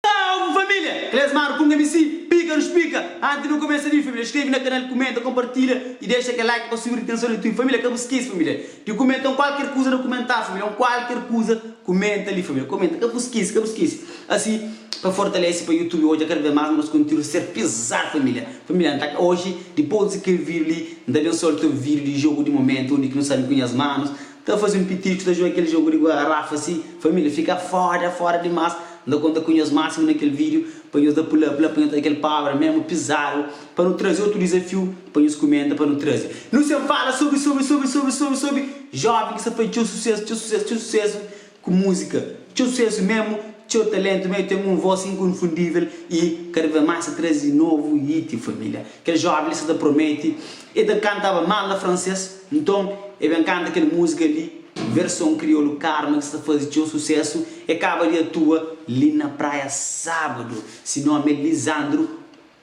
Salve família! Klesmar ku Mc pika nos pika! Anti nu kumesa li família skrebe na kanal kumenta konpartilha y dexa kel like pa subi ritenson di tubi família ka bu skese família di kumenta un kualker kuza na kumentar família un kualker kuza kumenta li família kumenta ka bu skese ka bu skese asi pa fortalese pa youtube odja kada bes mas nos kontidu ser pezadu família família antaka oji dipos di kel video li N ta ben só ta obi vídiu di jogu di momentu undi ki nu sabe ku nhas manus ta faze un pitiriku ta juga kel jogu di guararafa si família fika fóda fóda dimás N ta konta ku nhos másimu na kel vídiu pa nhos da pulá pulá pa nhos ta kel pabra memu pizadu pa nu traze otu dizafiu pa nhos kumenta pa nu traze nu sen fala subi subi subi subi subi subi jovem ki sa faze txeu susesu txeu susesu txeu susesu Ku múzika, txeu susésu memu, txeu taléntu mé, ten un vós inkonfundível i kada ves más ta traze novu hiti família. Kel jóven li sta ta promete, el ta kantaba mal na fransês, nton el ben kanta kel múzika li, verson kriolu Karma ki sta ta faze txeu susésu. El kaba di atua li na praia sábadu. Si nómi é Lisandro.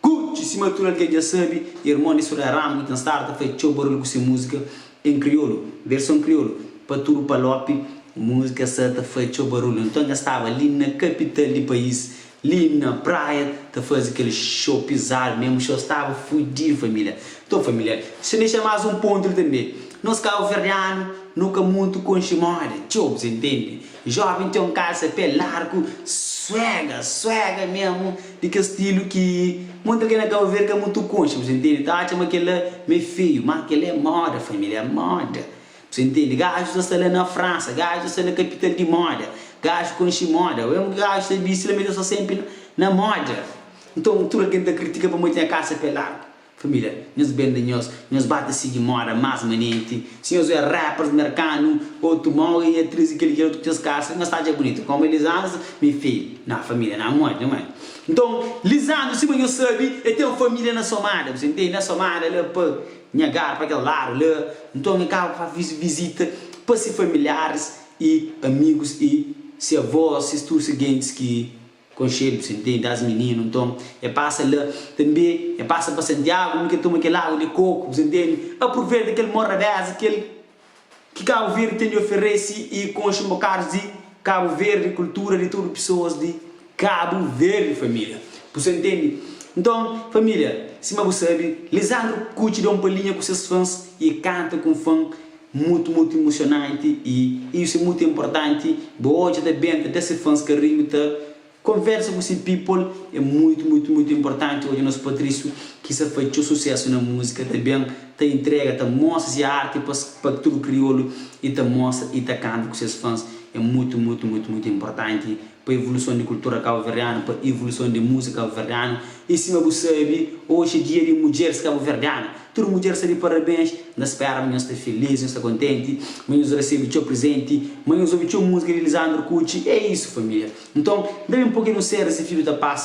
Kuchi, sima tudu algen dja sabe, irmon di Soraya Ramos nu ten stadu ta faze txeu barulhu ku se múzika en kriolu, verson kriolu, pa tudu palopi, múzika sa ta faze txeu barulhu, nton nha staba li na kapital di país, li na praia, ta faze kel xou pizadu, mé muxeu staba fudidu família. Nton família, dexa-m dexa más un pontu li tanbe, nos kabuverdianu nu ka mutu konxe modi txeu, bu ta intende, Joven ten un kalsa pé largu suega, suega mesmo, di kel stilu ki muita algen na Cabo Verde ka mutu konxe, bu ta intendi, ta atxa ma kel-la me feiu, má kel-la é moda, família, é moda, bu ta intendi. Gajus ta sta la na Fransa, gajus ta sta na kapital di moda, gajus konxe moda, mesmo ki gajus ta bisti la, ma el ta sta sénpri na moda. Nton, tudu algen ta kritika pamodi el ten kalsa pé largu. Família, nhos bende nhos, nhos ba ta sigi moda más manenti. Si nhos oja rappers merkanu, otu móre i atriz i kel i kel otu ku ses kasa, nhos ta atxa bunitu kómu é Lisandro, mi fidju? Nah, família, nah modi nha mai. Nton, Lisandro, sima nhos sabe, el ten un família na Somada, bu sa intende, na Somada la pa nha gar, pa kel ladu la. Nton, el kaba fa vizita pa se familiaris i amigus i se avós, ses tudu se gentis ki. Konxedu, sentei, das mininu, nton, e pasa la. Tanbe, e pasa pa Santiagu, mi ka toma kel agu de koku, bu sa ntende. Apruveta kel morabeza kel ki Kabu Verdi ten di oferesi y konxe un bokadus di Kabu Verdi, kultura di tudu pisoas di Kabu Verdi, familia. Bu sa ntende? Nton, familia, sima bu sabi, Lisandru kutxi da un palinha ku ses fans y kanta ku un fan, Mutu mutu imusionanti y iu se mutu importanti bo odja ta benta da se fans karinhu ta Konversa ku se people e mutu mutu mutu importanti odja nos Patricio ki sa fai txeu sucesso na musika ta ben ta intrega ta mostra se arti pa pa tudu kriolo y ta mostra y ta kanta ku ses fans e mutu mutu mutu mutu importanti pa evoluson di kultura kabuverdianu, pa evoluson di musika kabuverdianu. I sima bu sabi, oxi é dia di mudjeris kabuverdianu. Tudu mudjer sta di parabens, N ta spera ma nhos sta filís, nhos sta kontenti, ma nhos resebe txeu prezenti, ma nhos obi txeu musika di Lisandro Kutxi. É isu, família. Nton, da-m un poki di un série si fidju ta pasa.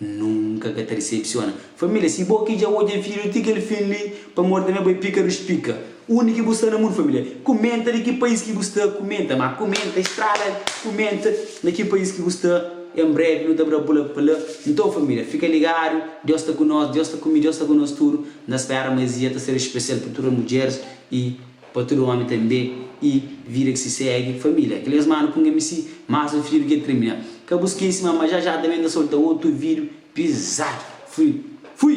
N nunka ka ta disepsiona. Família, si bo ki dja odja vídeo ti kel fin li, pamodi tanbê bo é pika di spika. Undi ki bu sta na mundu família? Kumenta di ki pais ki bu sta. Kumenta ma kumenta estrada kumenta na ki pais ki bu sta. En brevi nu ta bra bu la pa la. Nton família, fika ligadu, Deus sta ku nos, Deus sta ku mi, Deus sta ku nos tudu. N ta spera ma es dia ta ser spesial pa tudu mudjeris i. Pa tudu omi tanbê i vida ki si segi familia kel es manu punga mi si mas un fidju di kel krimina ka bu skesi ma ma jaja tanbê ta solta otu vidju pizadu fui fui.